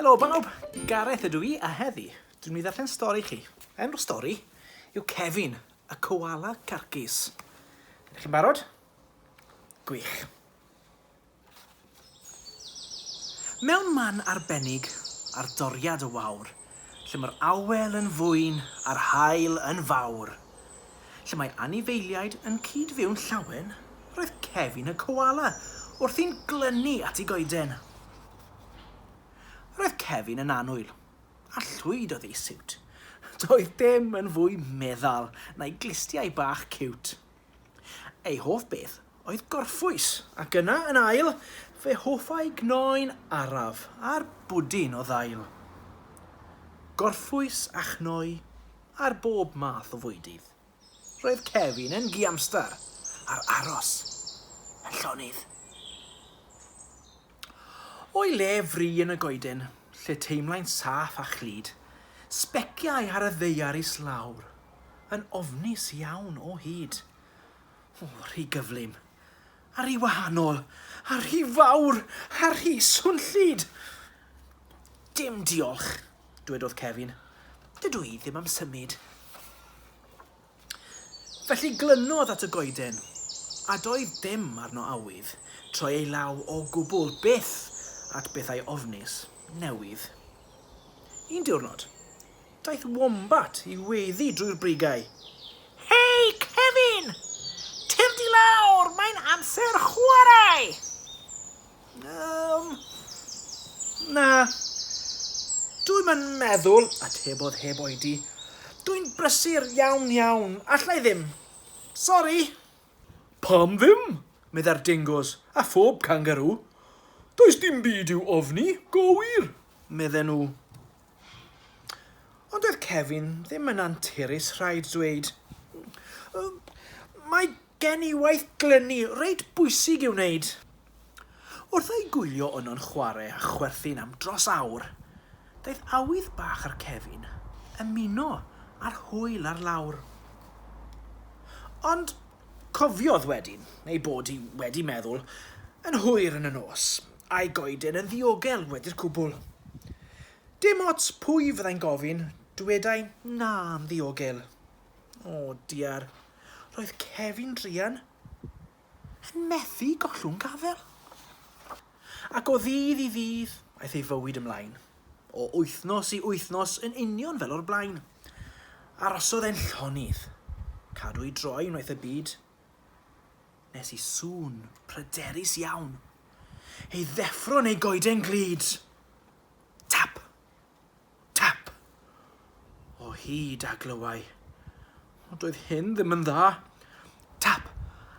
Helo bawb, Gareth ydw i a heddi dwi'n mynd i ddarllen stori chi. Enw'r stori yw Kevin, y koala carcus. Ydych chi'n barod? Gwych. Mewn man arbennig ar doriad y wawr, lle mae'r awel yn fwyn a'r haul yn fawr, lle mae anifeiliaid yn cyd-fyw'n llawen, roedd Kevin y Koala wrthi'n glynu at ei goeden. Roedd Kevin yn annwyl, a llwyd oedd ei siwt. Doedd dim yn fwy meddal na'i glustiau bach ciwt. Ei hoff beth oedd gorffwys, ac yna, yn ail, fe hoffai gnoen araf a'r bwdin o ddail. Gorffwys a chnoi ar bob math o fwydydd. Roedd Kevin yn giamstar, a'r aros yn llonydd. O'i le fri yn y goeden, lle teimlai'n saff a chlyd, sbeciai ar y ddaear islawr, yn ofnus iawn o hyd. O, rhy gyflym! A rhy wahanol! A rhy fawr! A rhy swnllyd! Dim diolch, dwedodd Kevin. Dydw i ddim am symud. Felly glynodd at y goeden, a doedd dim arno awydd troi ei law o gwbl byth at bethau ofnus, newydd. Un diwrnod, daeth wombat i weddu drwy'r brigau. Hei, Kevin! Tyrd i lawr, mae'n amser chwarae! Yym, na. Dwi'm yn meddwl, atebodd heb oedi. Dwi'n brysur iawn iawn, alla i ddim. Sori! Pam ddim? meddai'r dingoes, a phob cangarŵ. Does dim byd i'w ofni, go wir, medden nhw. Ond doedd Kevin ddim yn anturus, rhaid dweud. Mae gen i waith glynu reit bwysig i'w wneud. Wrth ei gwylio yno'n chwarae â chwerthin am dros awr, daeth awydd bach ar Kevin ymuno â'r hwyl ar lawr. Ond cofiodd wedyn ei bod hi wedi meddwl yn hwyr yn y nos, a'i goeden yn ddiogel wedi'r cwbl. Dim ots pwy fyddai'n gofyn, dwedai 'na' yn ddiogel. O diar, roedd Kevin druan. Yn methu gollwng gafael. Ac o ddydd i ddydd, aeth ei fywyd ymlaen. O wythnos i wythnos, yn union fel o'r blaen. Arosodd e'n llonydd. Cadw ei droi wnaeth y byd, nes i sŵn pryderus iawn ei ddeffro yn ei goeden glyd. Tap! Tap! O hyd a glywai. Ond doedd hyn ddim yn dda. Tap!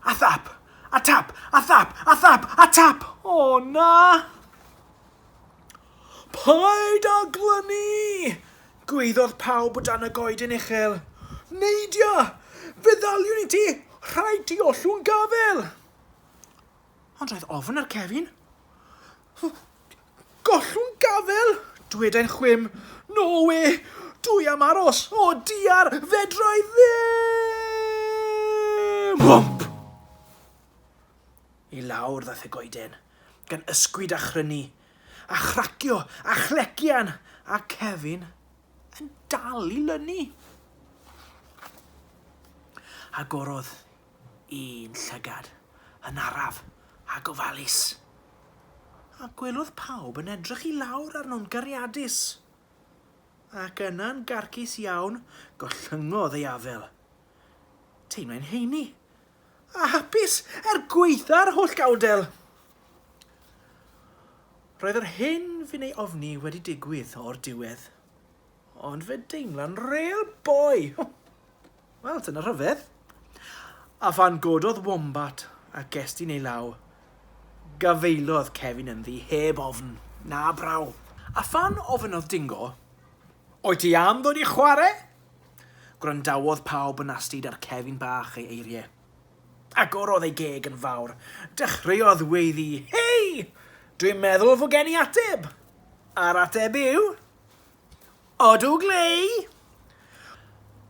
A thap! A tap! A thap! A thap! A tap! O na! Paid â glynu! Gwaeddodd pawb o dan y goeden uchel. Neidia! Fe ddaliwn i ti! Rhaid ti ollwng gafael! Ond roedd ofn ar Cefin. Gollwn gafael! dwedai'n chwim. No we! Dw i am aros! O diar! Fedra i ddim! Hwmp! I lawr ddaeth y goeden, gan ysgwyd a chrynu, a chracio, a chlegian, a Kevin yn dal i lynu. Agorodd Un llygad, yn araf, a gofalus. A gwelodd pawb yn edrych i lawr arno'n gariadus. Ac yna'n garcus iawn, gollyngodd ei afel. Teimlai'n heini, a hapus er gwaetha'r holl gawdel. Roedd yr hyn fu'n ei ofni wedi digwydd o'r diwedd. Ond fe deimla'n rêl boi! Wel, dyna rhyfedd. A phan gododd Wombat a gestyn ei law, gafaelodd Cefin ynddi heb ofn, na braw. A phan ofynnodd Dingo, Wyt ti am ddod i chwarae? Gwrandawodd pawb yn astud ar Cefin bach ei eiriau. Agorodd ei geg yn fawr, dechreuodd weiddi, Hei! Dwi'n meddwl fo gen i ateb! A'r ateb yw, Odw Glei!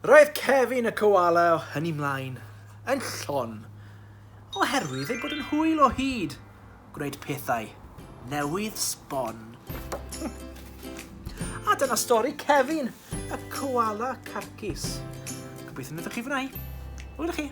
Roedd Kevin y Koala o hynny mlaen yn llon oherwydd ei bod yn hwyl o hyd gwneud pethau newydd sbon. A dyna stori Kevin y Koala Carcus. Gobeithio wnaethoch chi fwynhau. Hwyl chi!